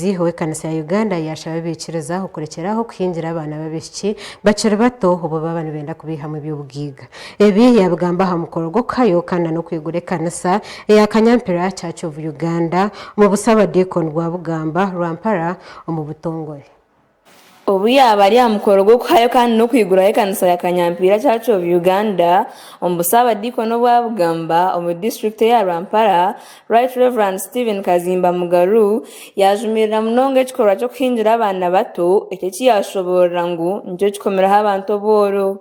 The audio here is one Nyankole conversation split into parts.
Omubuulizi w'ekanisa ya Uganda yaashaba abaikiriza okurekyeraaho okuhingira abaana b'abaishiki bakiri bato obu baaba nibenda kubaihamu eby'obugaiga. Ebi yaabigamba aha mukoro gw'okuhayo kandi na n'okwigura ekanisa eya Kanyampira Church of Uganda omu Busaabadiikoni bwa Bugamba, Rwampara omu butongore. Obu yaaba ari aha mukoro gw'okuhayo kandi n'okwiguraho ekanisa ya Kanyampiira Church of Uganda omu busaabadiikoni obwa Bugamba omu disiturikiti eya Rwampara, Right Rev. Stephen Kazimba Mugaru yaajumirira munonga ekikorwa ky'okuhingira abaana bato, eki eki yaashoboorora ngu nikyo kikomeraho abantu obworo.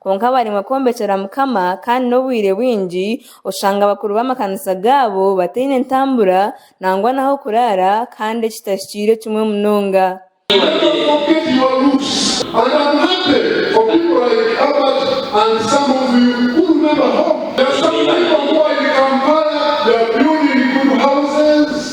Kwonka bariimwa kwombekyera Mukama kandi n'obwire bwingi oshanga abakuru b'amakanisa gaabo bataine ntambura nangwa n'ah'okuraara kandi eki tahikiire kimwe munonga.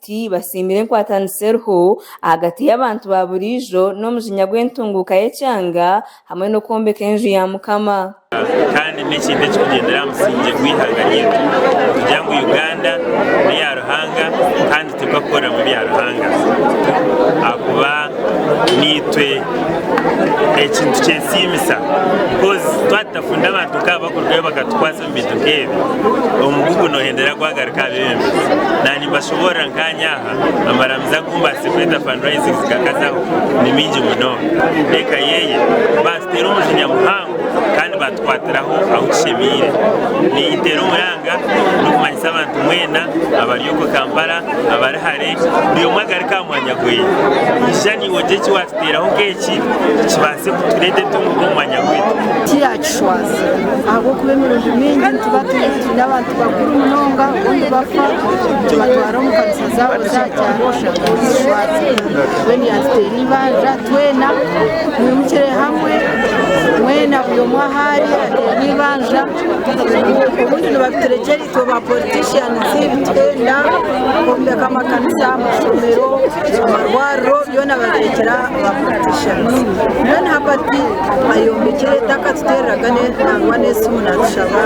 Ti basiimire enkwatanisa eriho ahagati y'abantu ba buriijo n'omujinya gw'entunguuka y'ekyanga hamwe n'okwombeka enju ya Mukama. Kandi n'ekindi ekikugyendera aha musingye gw'eihanga ryaitu, nitugira ngu Uganda n'eya Ruhanga kandi turuga kukoreramu ebya Ruhanga ahakuba n'eitwe eki nitukyesiimisa coz twatutafunda abantu nk'abo bakurugayo bakatukwasa. Ebintu nk'ebi omugugu noohendera gwagaruka aha bebembezi. Naanye nimbashoboorora nkaanye aha, amaramizo agu mbaasize kweta fundraising zikakazaho ni maingi munonga. Eka yeye baatuteera omujinya muhango kandi baatukwatiraho ahu tushemeire. Ninyiteera omuranga n'okumanyisa abantu mbwenu abari okwe Kampala, abari hare, buri omwe agaruke aha mwanya gweye. Ija naiwe ogye eki waatsigaire. Teeraho keeki kibaase kutureeta entunguka omu mwanya gwaitu. Tiyaakishwaza, ahabw'okuba emirundi mingi nituba twine abantu bakuru munonga obu nibafa nitubatwara omu kanisa zaabo za kyaro oshanga nizishwazibwa. Mbwenu yaatuteera eibanja twena twimukire hamwe, mwena buri omwe ahu ari ateere eibanja obundi nibabiturekyereza. Itwe ba politicians nituhenda kwombeka amakanisa, amashomero, amarwariro byona babirekera ba politicians. Mbwenu hapati ayombekire eitaka tutereraga ne nangwa n'esimu natushaba.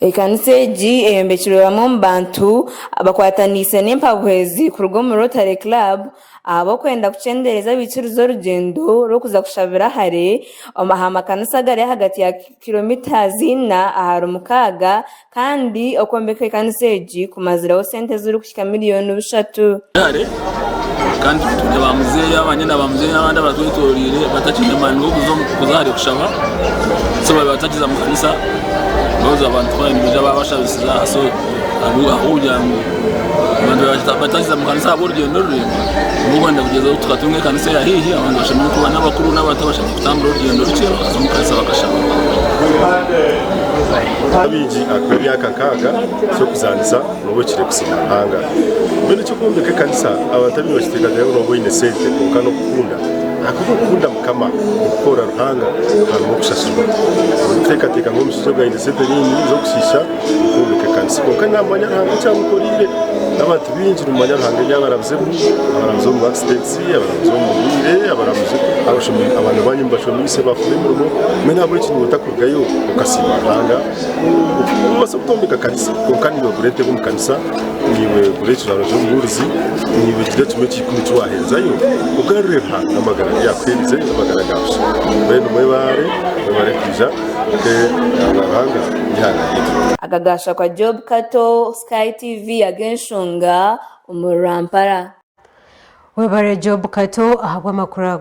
Ekanisa egi eyombekirwe bamwe omu bantu abakwataniise n'empabuhezi kuruga omu Rotary Club ahabw'okwenda kukyendereeza abaikiriza orugyendo rw'okuza kushabira hare aha makanisa agari ahagati ya kilometres ina ahari mukaaga kandi okwombeka ekanisa egi kumazireho sente ezirikuhika miliyoni bushatu. Hare kandi twiine ba muzeeyi, abanyina ba muzeeyi n'abandi abatwetoroire batakiine mwani w'okuza hare kushaba so babaire batakiza mu kanisa coz abantu twaba nibaija babashabisiza so ahabw'okugira ngu abantu babaire batakiza mu kanisa ahabw'orugyendo ruraingwa nikwo kwenda kugyezaho tukatunga ekanisa eya haihi abantu bashemererwe kuba n'abakuru n'abato. Kutambura orugyendo rukye okuza omu kanisa bakashaba. Kuha abaigi akuba emyaka nkaaga ky'okuzaanisa nooba ohikire kusiima Ruhanga. Mbwenu eky'okwombeka ekanisa abantu abaingi bakiteekateeka ngu nooba oine sente kwonka n'okukunda. Ahakuba okukunda Mukama n'okukorera Ruhanga harimu okushashurwa. Orikuteekateeka ngu omushaija ogwo aine sente nyingi z'okushiisha okwombeka ekanisa. Kwonka naamanya Ruhanga eki amukoreire. N'abantu baingi nimumanya Ruhanga eby'abarabizemu, abarabize omu accidents. Abaramuzi b'omu bwire, abaramuzi, abashomi, abaana banyu mubashomiise baafuna emirimo, mbwenu ahabw'enki niiwe otakurugayo okasiima Ruhanga? Noobaasa kutombeka kanisa kwonka niiwe gura entebe omu kanisa, niiwe gura ekijwaro ky'omubuurizi, niiwe gira kimwe ekya ikumi eki waaheerezaayo, ogarurire Ruhanga amagara agu yaakuhairize n'amagara ga busha. Mbwenu mwebaare, mwebaare kwija ote aha Ruhanga eihanga ryaitu. Aka gaashakwa Job Kato, Sky TV, ag'enshonga. omuri Rwampara. Webare Job Kato ahabw'amakuru ago.